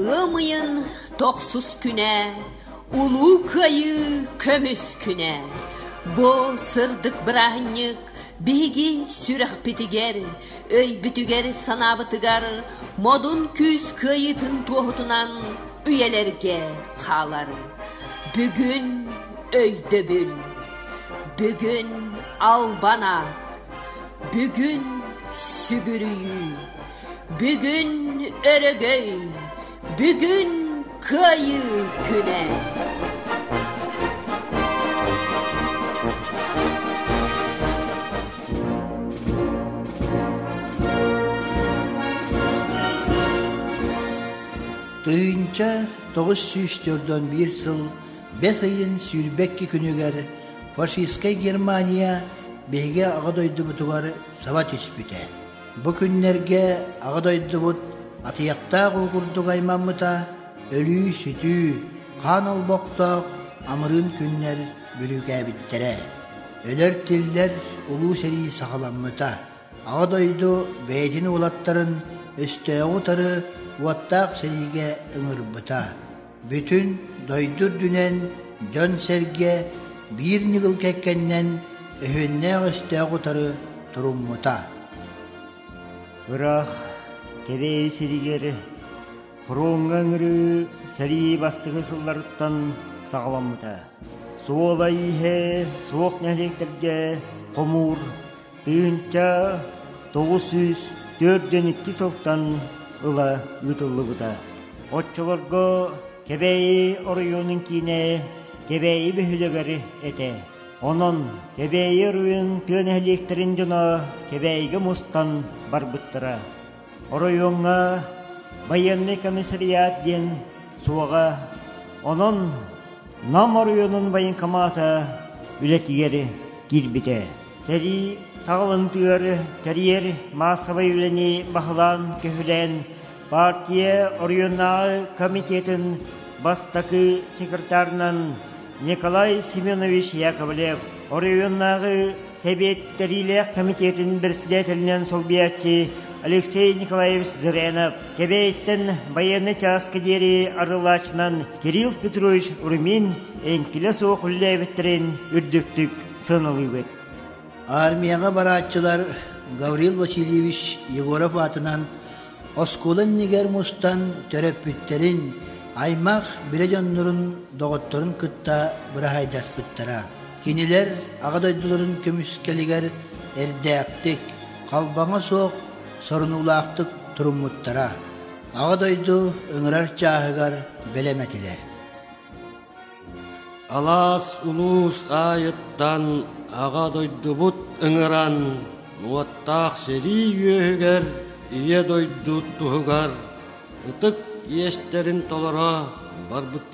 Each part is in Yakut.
Ыам ыйын тохсус күнэ, Улуу Кыайыы көмүс күнэ. Бу сырдык бырааһынньык биһиги сүрэхпитигэр, өйбүтүгэр, санаабытыгар модун күүс кыайыытын туоһутунан үйэлэргэ хаалар. Бүгүн Өйдөбүл бүгүн албана, бүгүн сүгүрүйүү, бүгүн өрөгөй, бүгүн кыайыы күнэ. Тыйынча тоғыз сүүс төрдөн биир сыл Бэс ыйын сүүрбэкки күнүгэр фашистскай Германия биһиги Аҕа дойдубутугар саба түспүтэ. Бу күннэргэ Аҕа дойдубут атыйахтаах уу курдук аймаммыта өлүү-сүтүү, хаан олбохтоох амырыын күннэр бүрүүкээбиттэрэ. Өлөр-тиллэр улуу сэрии саҕаламмыта. Аҕа дойду бэйэтин уолаттарын өстөөҕү утары уоттаах сэриигэ ыҥырбыта. Бүтүн дойду үрдүнэн дьон-сэргэ биир ньыгыл кэккэннэн өһүннээх-өстөөх утары туруммута. Ыраах Кэбээйи сиригэр фроҥҥа ыҥырыы сэрии бастакы сылларыттан саҕаламмыта. Суола ииһэ суох нэһилиэктэргэ хомуур Тыһыынча тоҕус сүүс төрдүөн икки сылтан ыла ыытыллыбыта. Оччолорго Кэбээйи оройуонун киинэ Кэбээйи бөһүөлэгэр этэ. Онон Кэбээйи оройун тыа нэһилиэктэрин дьоно Кэбээйигэ мустан барбыттара. Оройуоҥҥа байыаннай комиссариат диэн суоҕа, онон Нам оройуонун военкомата үлэтигэр киирбитэ. Сэрии саҕалантыгар тэрийэр маассабай үлэни баһылаан көһүлээн партия оройуоннааҕы комитетын бастакы секретарынан Николай Семенович Яковлев оройуоннааҕы Сэбиэт итэриилээх кэмитиэтин бэрэссэдээтэлинэн солбуйааччы Алексей Николаевич Зырянов Кэбээйиттэн байыаннай чааска диэри арылаачынан Кирилл Петрович Румин эҥкилэ суох үллээбиттэрин үрдүктүк сыаналыыбыт. Армияҕа барааччылар Гаврил Васильевич Егоров аатынан оскуола иннигэр мустан төрөппүттэрин, аймах билэ дьоннорун, доҕотторун кытта быраһайдаспыттара. Кинилэр Аҕа дойдуларын көмүскэлигэр эрдээхтик, халбаҥа суох сорунуулаахтык туруммуттара, Аҕа дойду ыҥырар чааһыгар бэлэм этилэр. Алаас улуус аайыттан Аҕа дойдубут ыҥыран уоттаах сэрии үөһүгэр Ийэ дойду туһугар ытык иэстэрин толоро барбыттара.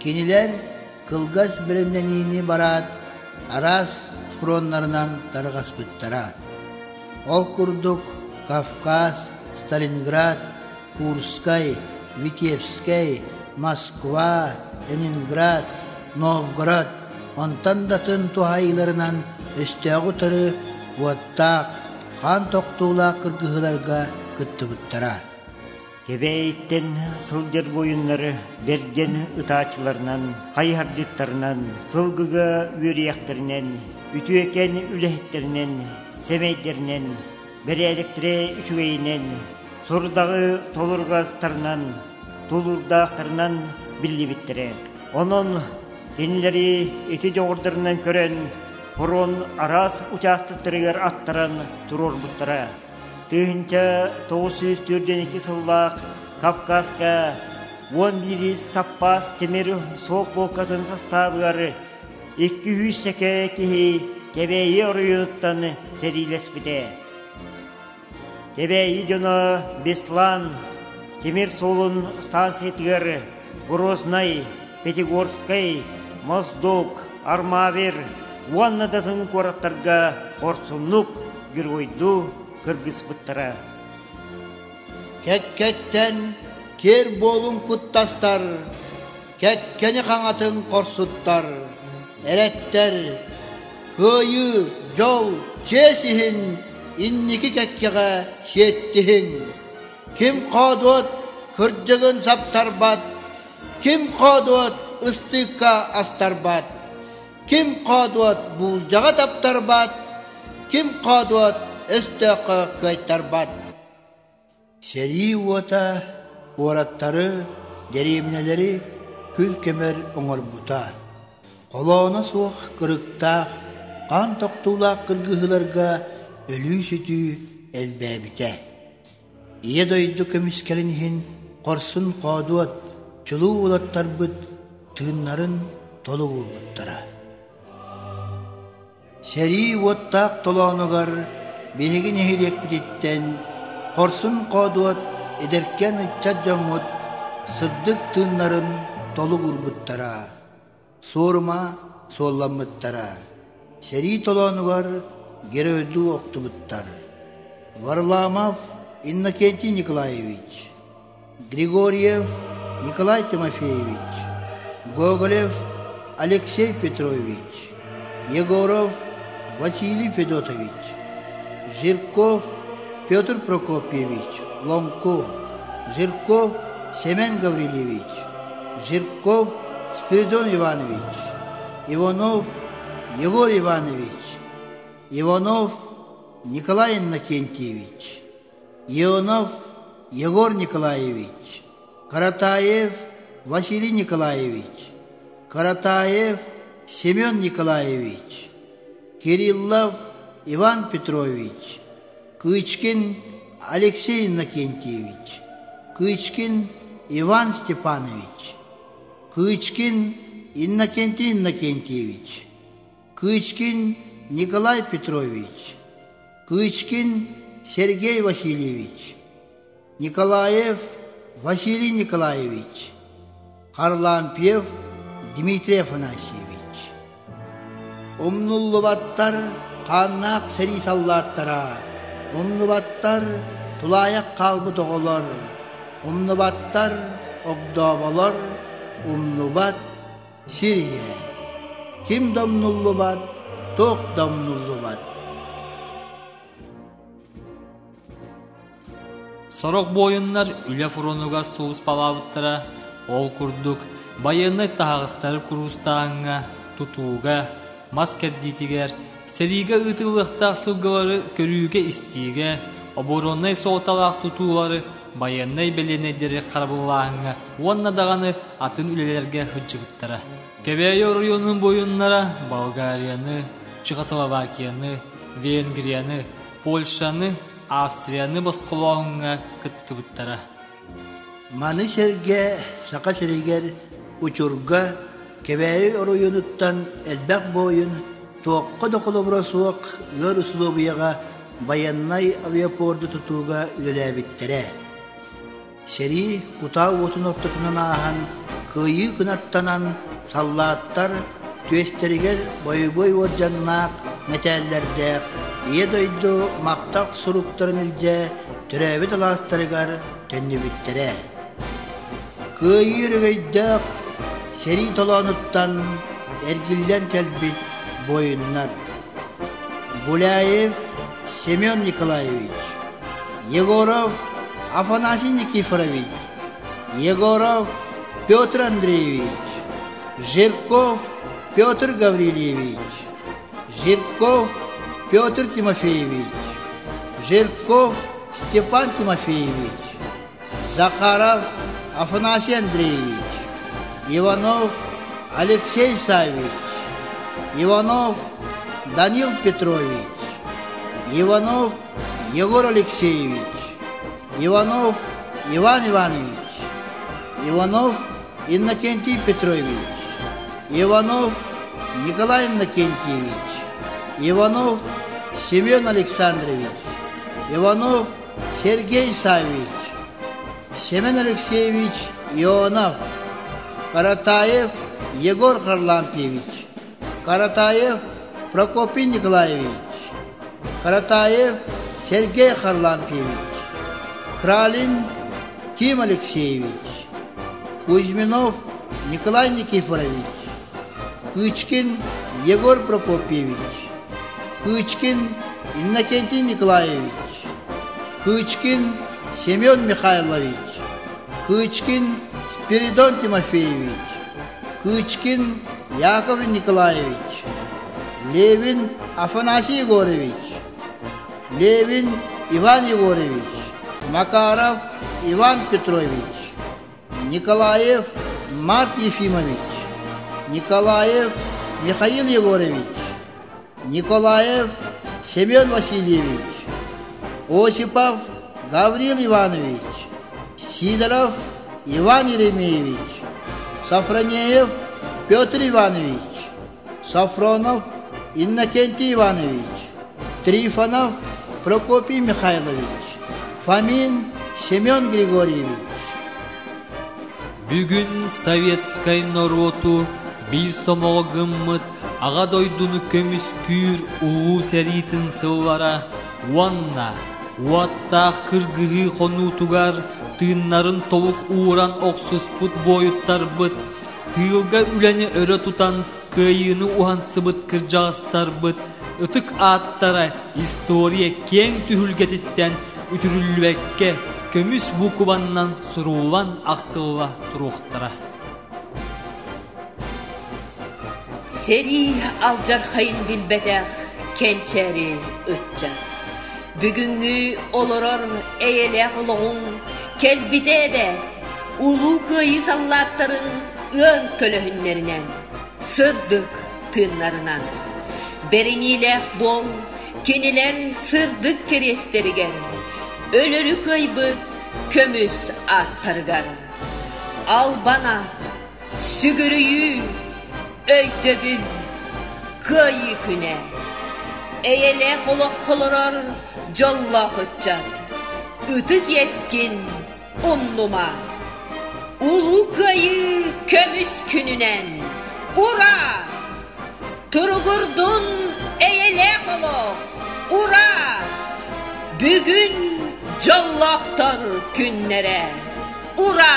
Кинилэр кылгас бэлэмнэниини бараат, араас фроннарынан тарҕаспыттара. Ол курдук Кавказ, Сталинград, Курскай, Витебскай, Москва, Ленинград, Новгород, онтон датын туһайыыларынан өстөөҕү утары уоттаах, хаан тохтуулаах кыргыһыыларга кыттыбыттара. Кэбээйиттэн сылдьар буойуннары бэргэн ытааччыларынан, хайыһардьыттарынан, сылгыга үөрүйэхтэринэн, үтүөкэн үлэһиттэринэн, сэмэйдэринэн, бэрээлэктэрэ үчүгэйинэн, сорудаҕы толургастарынан, тулуурдаахтарынан биллибиттэрэ. Онон кинилэри ити дьоҕурдарынан көрөн, фронт араас учаастактарыгар аттаран туруорбуттара. Тыһыынча тоҕус сүүс түөрт диэн икки сыллаах Кавказка уон биирис саппаас тимир суол полкатын састаабыгар икки үһүс чэкэ киһи Кэбээйи оройуоттан сэриилэспитэ. Кэбээйи дьоно Беслан тимир суолун станциятыгар Грознай, Пятигорскай, Моздок, Армавир уонна датын куораттарга хорсуннук геройдуу кыргыспыттара. Кэккэттэн киэр буолун куттастар, кэккэни хаҥатын хорсуттар, эрэттэр, кыайыы, дьол, чиэс иһин инники кэккэҕэ сиэттиһиҥ! Ким хоодуот кырдьыгын саптарбат, ким хоодуот ыстыыкка астарбат, ким хоодуот буулдьаҕа таптарбат, ким хоодуот өстөөххө кыайтарбат». Сэрии уота, уораттары, дэриэбинэлэри күл көмөр оҥорбута, холооно суох кырыктаах, хаан тохтуулаах кыргыһыыларга өлүү-сүтүү элбээбитэ. Ийэ дойду көмүскэлин иһин хорсун хоодуот, чулуу уолаттарбыт тыыннарын толугурбуттара. Сэрии уоттаах толоонугар биһиги нэһилиэкпититтэн хорсун хоодуот эдэркээн ыччат дьоммут сырдык тыыннарын толугурбуттара. Суорума суолламмыттара, сэрии толоонугар геройдуу охтубуттар Варламов Иннокентий Николаевич, Григорьев Николай Тимофеевич, Гоголев Алексей Петрович, Егоров Василий Федотович, Жирков Петр Прокопьевич Ломко, Жирков Семен Гаврильевич, Жирков Спиридон Иванович, Иванов Егор Иванович, Иванов Николай Иннокентьевич, Иванов Егор Николаевич, Каратаев Василий Николаевич, Каратаев Семен Николаевич, Кириллов Иван Петрович, Кычкин Алексей Иннокентьевич, Кычкин Иван Степанович, Кычкин Иннокентий Иннокентьевич, Кычкин Николай Петрович, Кычкин Сергей Васильевич Николаев Василий Николаевич, Харлампьев Дмитрий Афанасьевич, умнуллубаттар хааннаах сэрии саллааттара, умнубаттар тулаайах хаалбыт оҕолор, умнубаттар огдооболор, умнубат сир ийэ, ким да умнуллубат, туох да умнуллубат. Сорох буойуннар үлэ фронугар сулууспалаабыттара, ол курдук, байыаннай таһаҕастары куруустааһыҥҥа, тутууга, мас кэрдиитигэр, сэриигэ ыытыллыахтаах сылгылары көрүүгэ-истиигэ, обороннай суолталаах тутуулары байыаннай бэлиэнэйдэри харабыллааһыҥҥа уонна даҕаны атын үлэлэргэ сылдьыбыттара. Кэбээйи оройуонун буойуннара Болгарияны, Чехословакияны, Венгрияны, Польшаны, Австрияны босхолооһуҥҥа кыттыбыттара. Маны сэргэ Саха сиригэр учурга Кэбээйи оройуонуттан элбэх буойун туохха да холобура суох ыар усулуобуйаҕа байыаннай авиапорду тутууга үлэлээбиттэрэ. Сэрии кутаа уотун ортотунан ааһан, кыайыы кынаттанан, саллааттар түөстэригэр бойобуой уордьаннаах мэтээллэрдээх Ийэ дойду махтал суруктарын илдьэ төрөөбүт алаастарыгар төннүбүттэрэ. Кыайыы өрөгөйдөөх сэрии толоонуттан эргиллэн кэлбит буойуннар Гуляев Семен Николаевич, Егоров Афанасий Никифорович, Егоров Петр Андреевич, Жирков Петр Гаврильевич, Жирков Петр Тимофеевич, Жирков Степан Тимофеевич Захаров Афанасий Андреевич, Иванов Алексей Саввич, Иванов Данил Петрович, Иванов Егор Алексеевич, Иванов Иван Иванович, Иванов Иннокентий Петрович, Иванов Николай Иннокентьевич, Иванов Семен Александрович, Иванов Сергей Саввич, Семен Алексеевич Ионов, Каратаев Егор Харлампьевич, Каратаев Прокопий Николаевич, Каратаев Сергей Харлампьевич, Кралин Тим Алексеевич, Кузьминов Николай Никифорович, Пычкин Егор Прокопьевич, Пычкин Иннокентий Николаевич, Пычкин Семен Михайлович, Пычкин Спиридон Тимофеевич, Пычкин Яков Николаевич, Левин Афанасий Егорович, Левин Иван Егорович, Макаров Иван Петрович Николаев Марк Ефимович, Николаев Михаил Егорович, Николаев Семен Васильевич, Осипов Гаврил Иванович, Сидоров Иван Еремеевич, Сафронеев Петр Иванович, Софронов Иннокентий Иванович, Трифонов Прокопий Михайлович, Фомин Семен Григорьевич Бүгүн советскай норуоту биир сомоҕо гыммыт Аҕа дойдуну көмүскүүр Улуу сэриитин сыллара уонна уоттаах кыргыһыы хонуутугар тыыннарын толук ууран охсуспут буойуттарбыт Тыылга үлэни өрө тутан кыайыыны уһансыбыт кырдьаҕастарбыт ытык ааттара история киэҥ түһүлгэтиттэн үтүрүллүбэккэ көмүс буукубаннан суруулан ахтылла туруохтара Сэрии алдьархайын билбэтэх кэнчээри ыччат Бүгүҥҥү олорор эйэлээх олоҕуҥ кэлбитэ эбээт! Улуу Кыайыы саллааттарын ыан көлөһүннэринэн, сырдык тыыннарынан. Бэриниилээх буол кинилэр сырдык кэриэстэригэр, өлөрү кыайбыт көмүс ааттарыгар. Албан аат, сүгүрүйүү, Өйдөбүл Кыайыы күнэ Эйэлээх олоххо олорор дьоллоох ыччат Ытык иэскин умнума Улуу Кыайыы көмүс күнүнэн Ура! Туругурдун эйэлээх олох! Ура! Бүгүн дьоллоохтор күннэрэ! Ура!